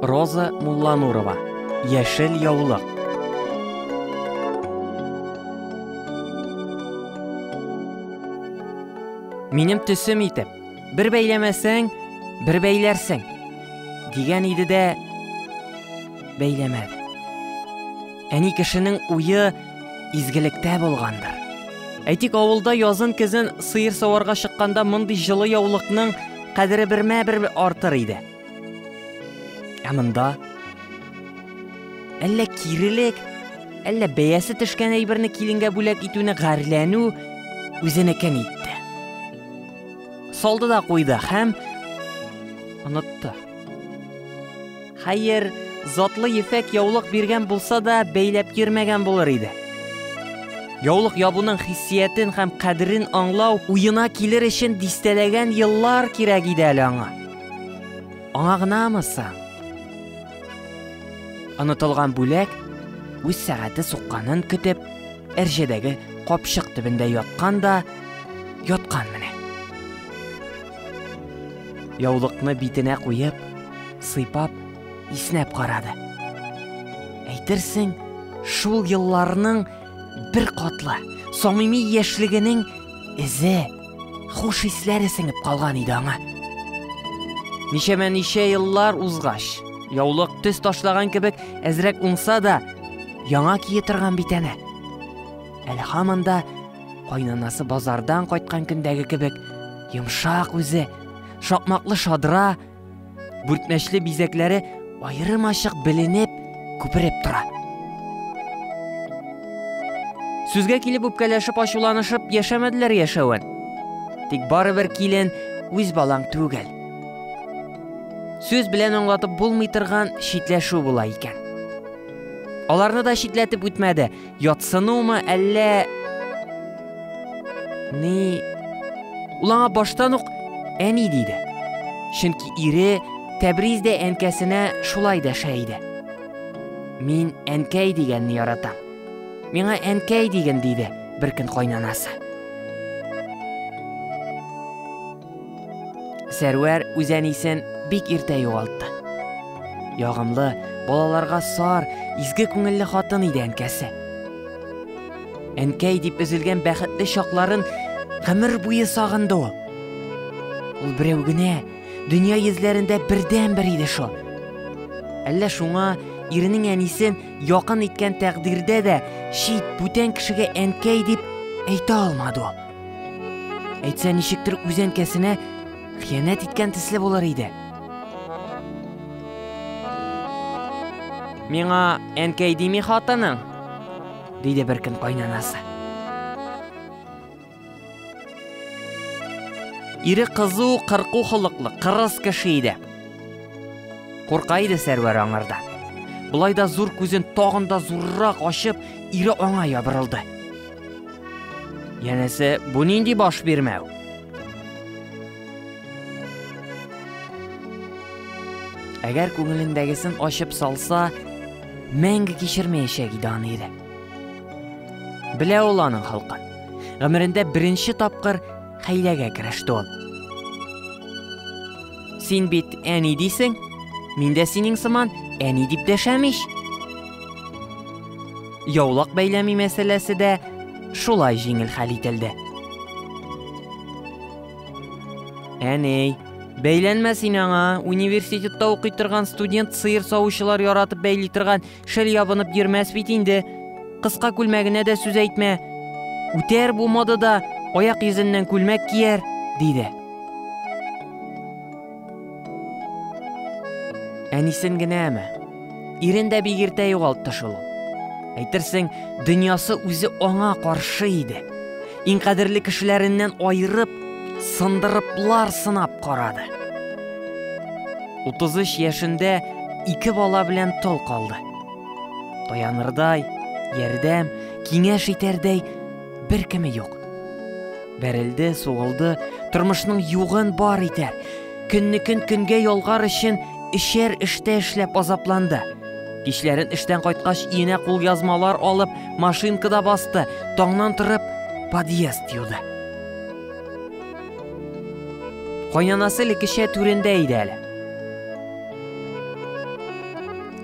Роза Мулланурова. Яшел яулык. Минем төсем итеп, бер бәйләмәсәң, бер бәйләрсең. Дигән иде дә бәйләмәде. Әни кешенең уе изгелектә булгандыр. Әйтик, авылда язын-көзен сыер саварга чыкканда мондый җылы яулыкның кадере бермә бер артыр иде. Ә монда әллә кирелек, әллә бәясе төшкән әйберне киленгә бүләк итүне гарьләнү үзенекен итте. Салды да куйды һәм онытты. Хәер, затлы ефәк яулык биргән булса да, бәйләп йөрмәгән булыр иде. Яулык ябуның хиссиятен һәм кадерен аңлау уена килер өчен дистәләгән еллар кирәк иде әле аңа. Аңа гынамы соң? Онытылган бүләк үз сәгате сукканын көтеп, әрҗәдәге капчык төбендә яткан да яткан менә. Яулыкны битенә куеп, сыйпап, иснәп карады. Әйтерсең, шул елларның бер катлы, самими яшьлегенең эзе, хуш исләре сеңеп калган иде аңа. Ничәмә ничә еллар узгач, яулык төс ташлаган кебек әзрәк уңса да, яңа кие торган бит әнә. Әле һаман да Кайнанасы базардан кайткан көндәге кебек йомшак үзе, шакмаклы шадра, бүртмәчле бизәкләре аерым ачык беленеп, күпереп тора. Сүзгә килеп үпкәләшеп ачуланышып яшәмәделәр яшәвен. Тик барыбер килен үз балаң түгел. Сүз белән аңлатып булмый торган читләшү була икән. Аларны да читләтеп үтмәде, Ятсынумы әллә Ни Ул аңа баштан ук әни диде. Чөнки ире Тәбриз дә әнкәсенә шулай дәшә иде. Мин әнкәй дигәнне яратам. Миңа әнкәй диген диде беркөн кайнанасы. Сәрвәр үзәнисен бик иртә югалтты. Ягымлы, балаларга сар, изге күңелле хатын иде әнкәсе. Әнкәй дип өзелгән бәхетле чакларын гомер буе сагынды ул. Ул берәү генә дөнья йөзләрендә бердән-бер иде шул. Әллә шуңа иренең әнисен якын иткән тәкъдирдә дә чит бүтән кешегә әнкәй дип әйтә алмады ул. Әйтсә, ничектер үз әнкәсенә хыянәт иткән төсле булыр иде. Миңа әнкәй дими хатының? Диде бер көн кайнанасы. Ире кызу, кырку холыклы, кырыс кеше иде. Курка иде Сәрвәр аңарда. Болай да зур күзен тагын да зуррак ачып, ире аңа ябырылды. Янәсе, бу нинди баш бирмәү? Әгәр күңелендәгесен ачып салса, мәңге кичермәячәк иде аны иде. Белә ул аның халкын. Гомерендә беренче тапкыр хәйләгә кереште ул. Син бит әни дисең, мин дә синең сыман әни дип дәшәм ич. Яулык бәйләми мәсьәләсе дә шулай җиңел хәл ителде. Әней, бәйләнмә син аңа, университетта укый торган студент сыер савучылар яратып бәйли торган шәл ябынып йөрмәс бит инде. Кыска күлмәгенә дә сүз әйтмә. Үтәр бу модада, аяк йөзеннән күлмәк кияр, диде. Әнисен генәме? Ирен дә бик иртә югалтты шул. Әйтерсең, дөньясы үзе аңа каршы иде. Иң кадерле кешеләреннән айырып, сындырыплар сынап карады. 33 яшендә ике бала белән тол калды. Таянырдай, ярдәм, киңәш итәрдәй бер кеме юк. Бәрелде, сугылды, тормышның югын бар итәр. Көнне көн көнгә ялгар өчен эшәр эштә эшләп азапланды. Кичләрен эштән кайткач иенә кул язмалар алып, машинкада басты, таңнан торып подъезд юды. Кайнанасы лекешә түрендә иде әле.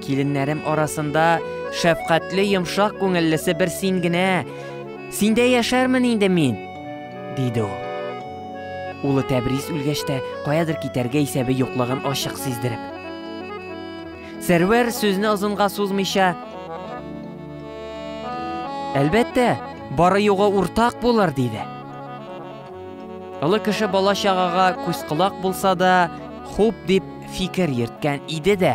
Киленнәрем арасында шәфкатьле йомшак күңеллесе бер син генә. Синдә яшәрмен инде мин, диде ул. Улы Тәбрис үлгәч тә каядыр китәргә исәбе юклыгын ачык сиздереп. Сәрвәр сүзне озынга сузмыйча, Әлбәттә, бары югы уртак булыр, диде. Олы кеше бала чагага күз колак булса да, хуп дип Фикер йөрткән иде дә.